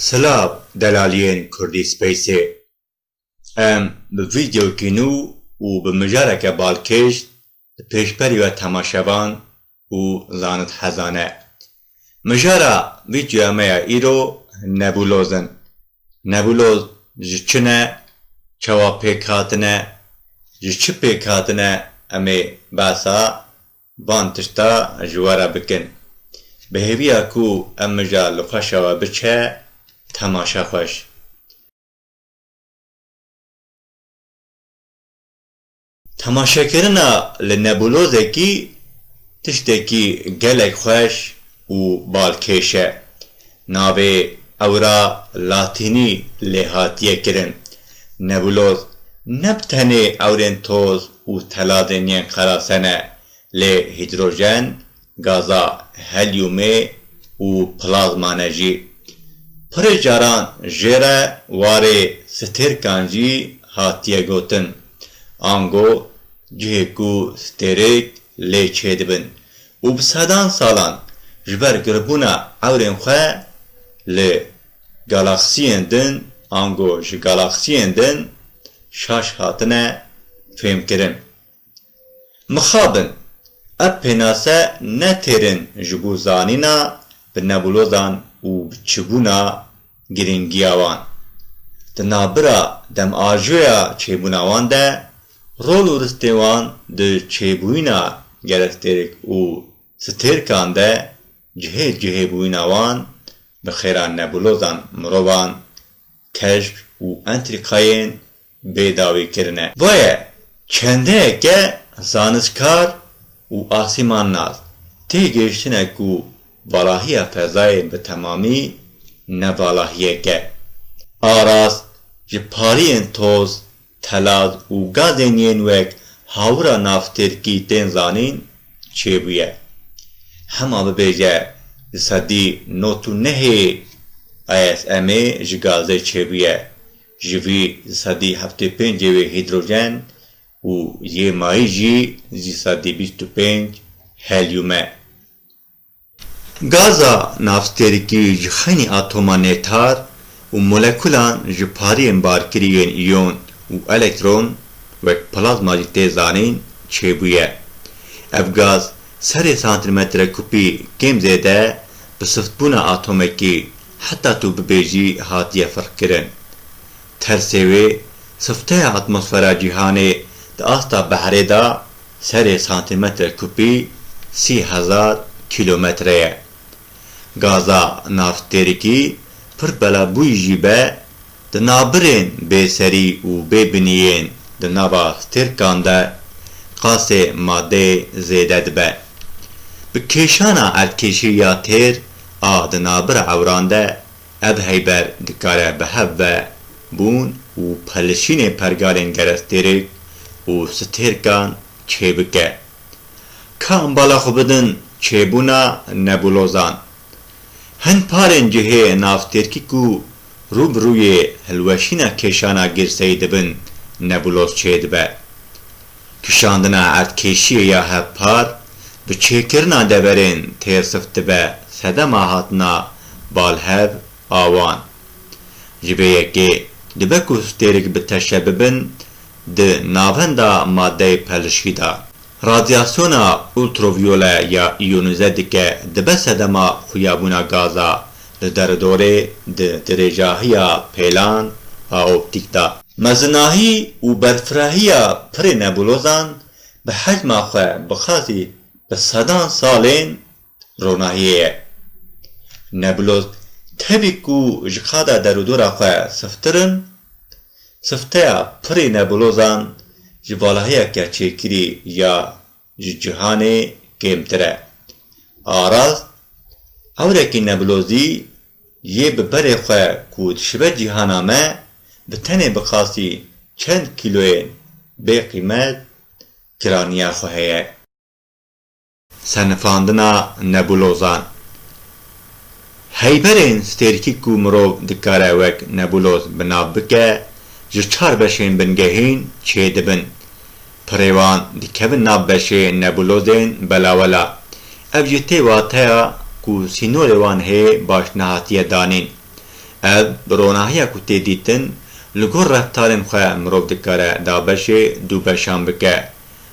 Silav delaliyên Kurdî Spaceê. Em bi vîdeoyekî nû û bi mijareke balkêş di pêşberîya temaşevan û zanithezan e. Mijara vî çûyameya îro nebûloz in. Nebûloz ji çi ne, çawa pêk hatine, ji çi pêk hatine em ê behsa van tişta ji we re bikin. Bi hêviya ku ev mija li xweşa we biçe temaşe xweş. Temaşekirina li nebulozekî tiştekî gelek xweş û balkêş e. Navê ewra latînî lê hatiye kirin. Nebuloz ne bi tenê ewrên toz û teladên yên qerasene lê hîdrojen, Gaza helyumê û plazmane jî pirê caran jê re warê stêrkan jî hatiye gotin. Ango cihê ku stêrêk lê çêdibin û bi sedan salan ji ber giribûna ewrên xwe li galaksiyên din ango ji galaksiyên din şaş hatine fêmkirin Mixabin, ev pênase ne têrên ji bo zanîna bi nebûlodan û bi çibûna girîngiya wan, di navbira demajoya çêbûna wan de, rol û ristê wan di çêbûyîna gerestêrk û stêrkan de, cihê cihê bûyîna wan bi xêra nebûlodan mirovan, keşk û entrîkayên bê dawî kirine. Boye çendeyeke zanistkar û asîmannas tê gihiştine ku valahiya fezayê bi temamî ne valahiyek e. Aras ji pariyên toz, telaz û gazên yên wek hawira naftêrkî tên zanîn çêbûye. Hema bibêje di sedî not û nehê ISM'ê ji gazê çêbûye Ji vî sedî heftê û pênc yê wê hîdrojen û yê mayî jî zî sedî bîst û pênc helyum e. Gaza navstêrikî ji xenî atoma nêtar û molekulan ji pariyên barkirî yên îyon û elektron wek plazma jî tê zanîn çêbûye. Ev gaz serê santimetre kupî kêm zêde bi siftbûna atomekî Heta tu bibêjî hatiye firqkirin. Tersê wê sifteya atmosfera cîhanê di asta behrê de serê santîmetre kupî sî hezar kîlometre ye. Gaza naftêrikî pir bela bûyî jî be Di nabirên bêserî û bêbiniyên di nava stêrkan de qasê madeyê zêde dibe. Bi kêşana erdkêşî ya têr a di nabira ewran de ev heyber dikare bi hev ve bûn û pelişînê pergalên gerestêrik û stêrkan çêbike. Ka bala xwe bidin çêbûna nebulozan. Hin parên cihê navtêrkî ku rû bi rûyê hilweşîna kêşana girseyî dibin nebuloz çêdibe. Kişandina erdkêşiyê ya hevpar bi çêkirina deverên têrsif dibe sedema hatina balhev a wan. Ji vê yekê dibe ku stêrek bi teşe bibin di navenda madeyê pelişkî de. Radyasyona ultraviyole ya iyonize dike dibe sedema xuyabûna gaza li deredorê di dirêjahiya pêlan a optîk de. Mezinahî û berfirahiya pirê nebulozan bi hecma xwe bi xazî bi sedan salên Ronahiyê ye. Nebulot tevî ku ji qada derûdora xwe siftir in, sifteya pirê nebulozan ji valahiyeke çêkirî ya ji cîhanê kêmtir e. Aras, ewrekî nebulozî yê bi berê xwe ku dişibe cîhana me, bi tenê bi qasî çend kîloyên bêqîmet kiraniya xwe heye. Senifandina nebulozan Heyberên stêrkî ku mirov dikare wek nebuloz bi nav bike ji çar beşên bingehîn çê dibin. Pirê wan dikevin nav beşê nebulozên belawela. Ev jî tê wateya ku sînorê wan hê baş nehatiye danîn. Ev bi ronahiya ku tê dîtin li gor reftarên xwe mirov dikare dabeşê dû beşan bike.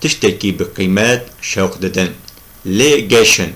tiştekî bi qîmet şewq didin. Lê geşin,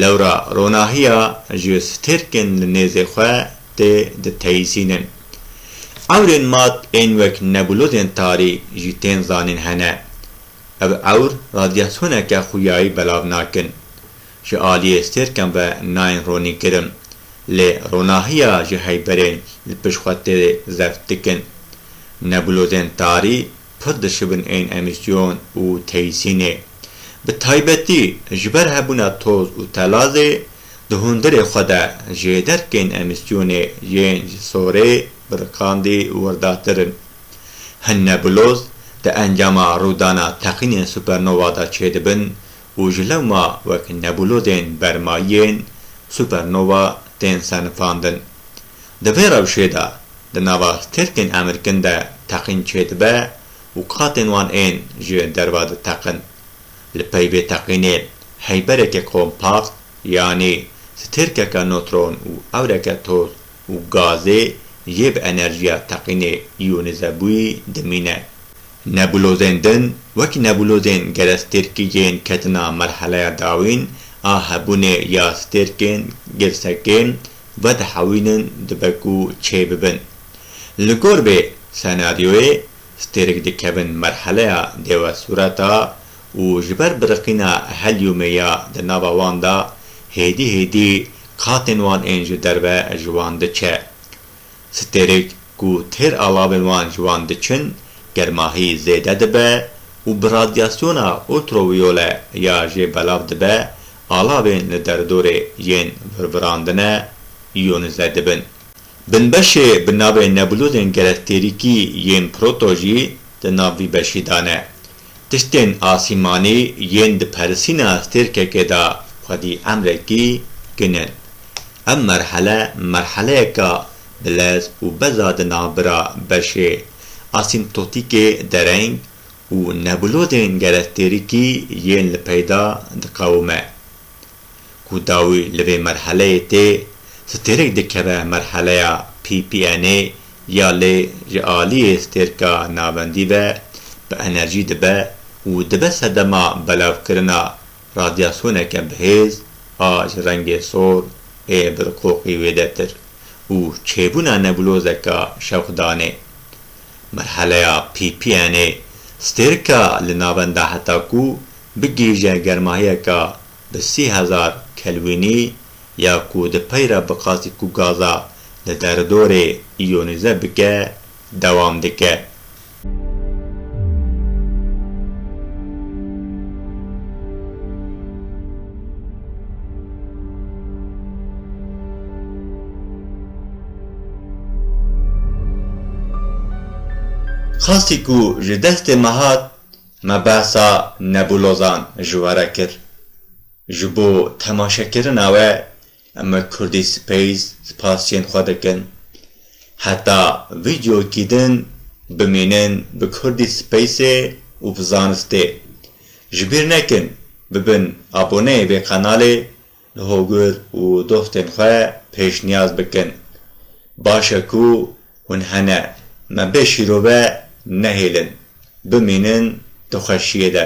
lewra ronahiya ji stêrkên li nêzê xwe tê diteyîsînin. Ewrên mat ên wek nebulozên tarî jî tên zanîn hene. Ev ewr radyasyoneke xûyayî belav nakin. Ji aliyê stêrkan ve nayên ronînkirin. Lê ronahiya ji heyberên li pişt xwe tê zeft dikin. Nebulozên tarî, pir dişibin ên emîsyon û teyîsînê. Bi taybetî ji ber hebûna toz û telazê di hundirê xwe de jê derkên emîsyonê yên ji sorê biriqandî wirdatir in. Hin nebuloz di encama rûdana teqînên supernova de çêdibin û ji lewma wek nebûlodên bermayiyên supernova tên senifandin. Di vê rewşê de di nava stêrkên emirkin de teqîn çêdibe û qatên wan ên ji derve diteqin. Li pey vê teqînê heybereke kompakt yanî stêrkeke notron û ewreke toz û gazê yê bi enerjiya teqînê iyonîzebûyî dimîne. Nebulozên din wek nebulozên gerestêrkîgên ketina merheleya dawîn a hebûnê ya stêrkên girsekê vedihewînin dibe ku çê bibin. Li gor vê senaryoyê stêrk dikevin merheleya dêwesureta û ji ber biriqîna helyûmê ya di nava wan de hêdî hêdî qatên wan ên ji derve ji wan diçe. Stêrek ku têr alavên wan ji wan diçin germahî zêde dibe û bi radyasyona ultrawiyole ya jê belav dibe, alavên li derdorê yên virvirandine yonize dibin. Binbeşê bi navê nebulozên gelektêrîkî yên proto jî di nav vî beşî de ne. Tiştên asîmanî yên di persîna stêrkekê de xwedî emrekî kin in. Ev merhele merheleyeka bi lez û beza di navbira beşê asîmtotîkê dereng û nebulozên gerestêrikî yên li peyda diqewime. ku dawî li vê merheleyê tê, stêrek dikeve merheleya PPN'ê ya lê ji aliyê stêrka navendî ve bi enerjî dibe û dibe sedema belavkirina radyasyoneke bihêz a ji rengê sor ê birqoqî wêdetir û çêbûna nebulozeka şewqdanê. Merheleya PPN'ê stêrka li navenda heta ku bigihîje germahiyeka Bi sî hezar kelwînî ya ku di peyra biqasî ku gaza li deridorê îyonîze bike dewam dike. Qasî ku ji destê me hat Me behsa nebulozan ji we re kir. Ji bo temaşekirina we em li Kurdî Space spasiyên xwe dikin. Heta vîdyokî din bimînin bi Kurdî Spaceê û bi zanistê. Ji bîr nekin bibin aboneyê vê qenalê. Li hogir û doxtên xwe pêşniyaz bikin. Baş e ku hûn hene. Me bê şîrove nehêlin. Bimînin di xweşiyê de.